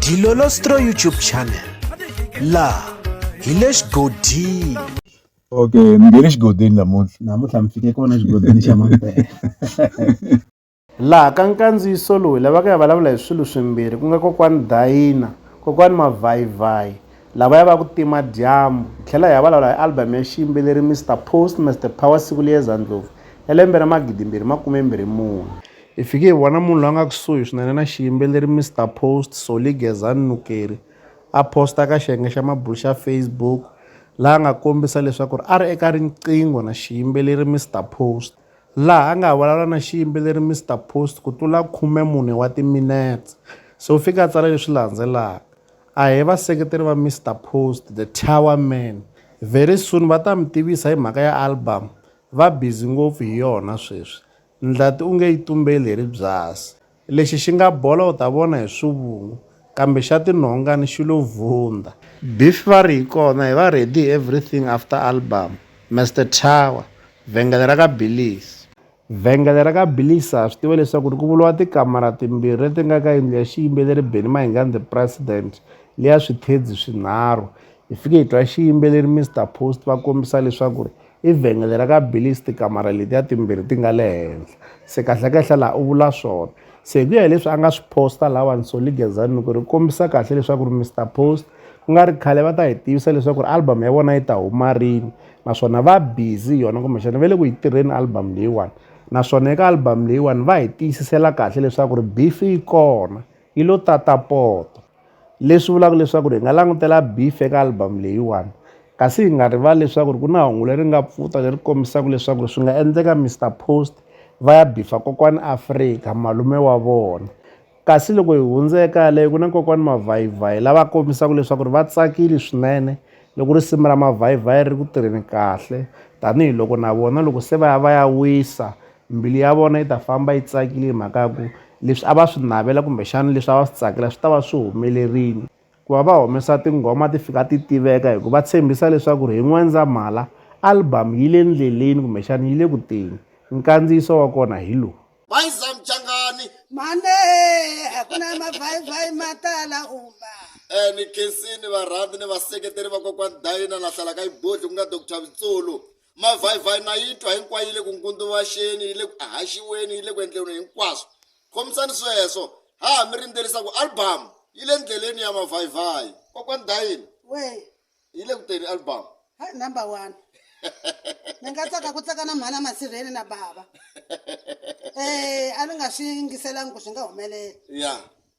Dilolostro YouTube channel laha hi le xigodini okay mi nge le xigodini namuntlha namuntlha mi fike kona xigodini xa mampela laha ka nkandziyiso lowu hi lavaka ya vulavula hi swilo swimbirhi ku nga kokwani dayina kokwani mavhayivhayi lava ya va ku tima dyambu hi tlhela hi ya vulavula hi album ya xiyimbeleri mr post mr power siku liyeza ndlovu ya lembe ra magidimbirhi makumembirhi mune Hi fike hi vona munhu loyi a nga kusuhi swinene na xiyimbeleri Mister Post, Solly Gezani Nukeri, a posta eka xiyenge xa mabulo xa Facebook laha a nga kombisa leswaku a ri eka riqingho na xiyimbeleri Mister Post, laha a nga vulavula na xiyimbeleri Mister Post ku tlula khume mune wa timinetse. Se u fike a tsala leswi landzelaka, A he vaseketeri va Mister Post, The Tower Man. Very soon va ta mi tivisa hi mhaka ya album. Va busy ngopfu hi yona sweswi. Ndlati u nge yi tumbeli hi ribyasi. Lexi xi nga bola u ta vona hi swivungu, kambe xa tinhongani xi lo vundha. Beef va ri hi kona hi va ready hi everything after album. Mester Tower, Vhengele ra ka Billies. Vhengele ra ka Billies ha swi tiva leswaku ri ku vuriwa tikamara timbirhi leti nga ka yindlu ya xiyimbeleri Benny Mahingani the President leya swithedzi swinharhu. Hi fike hi twa xiyimbeleri Mister Post va kombisa leswaku ri I vhengele ra ka Billy's tikamara letiya timbirhi ti nga le henhla se kahlekahle laha u vula swona se hi ku ya hileswi a nga swi posta lawa Nsoli Gezani ku ri kombisa kahle leswaku ri Mr Post ku nga ri khale va ta hi tivisa leswaku ri album ya vona yi ta huma rini naswona va busy yona kumbexana va le ku yi tirheni album leyiwani naswona eka album leyiwani va hi tiyisisela kahle leswaku ri beef yi kona. yi lo tata poto leswi vulaka leswaku ri hi nga langutela beef eka album leyiwani kasi hi nga rivali leswaku ri ku na hungu leri nga pfuta leri kombisaka leswaku ri swi nga endleka mr post va ya bifa kokwani afrika malume wa vona kasi loko hi hundze eka yaleyo ku na kokwani mavhayivhayi lava kombisaka leswaku ri va tsakile swinene loko ri simu ra mavhayivhayi ri ku tirheni kahle tanihiloko na vona loko se va ya va ya wisa Mbilu ya vona yi ta famba yi tsakile hi mhaka ya ku leswi a va swi navela kumbexana leswi a va swi tsakela swi ta va swi humelerile ku va va humesa tinghoma ti fika ti tiveka hi ku va tshembisa leswaku ri hi N'wendzamhala album yi le ndleleni kumbexana yi le ku teni nkandziyiso wa kona hi lowu Bayiza Mchangani mhane a ku na mavhayivhayi ma tala uma eh ni khensini varhandzi ni vaseketeri vakokwani Dayina la hlala ka yibodli ku nga Dr Vitsulu mavhayivhayi na yi twa hinkwayo yi le ku ngunduvaxeni yi le ku ahaxiweni yi le ku endleni hinkwaswo khomisani sweswo ha ha mi rindzelisa ku album yi le ndleleni ya mavhayivhayi kokwani dayini we yi le ku teni album hayi number one ni nga tsaka ku tsaka na mhana masirheni na bava um a ni nga swi yingiselangi ku swi nga humelela ya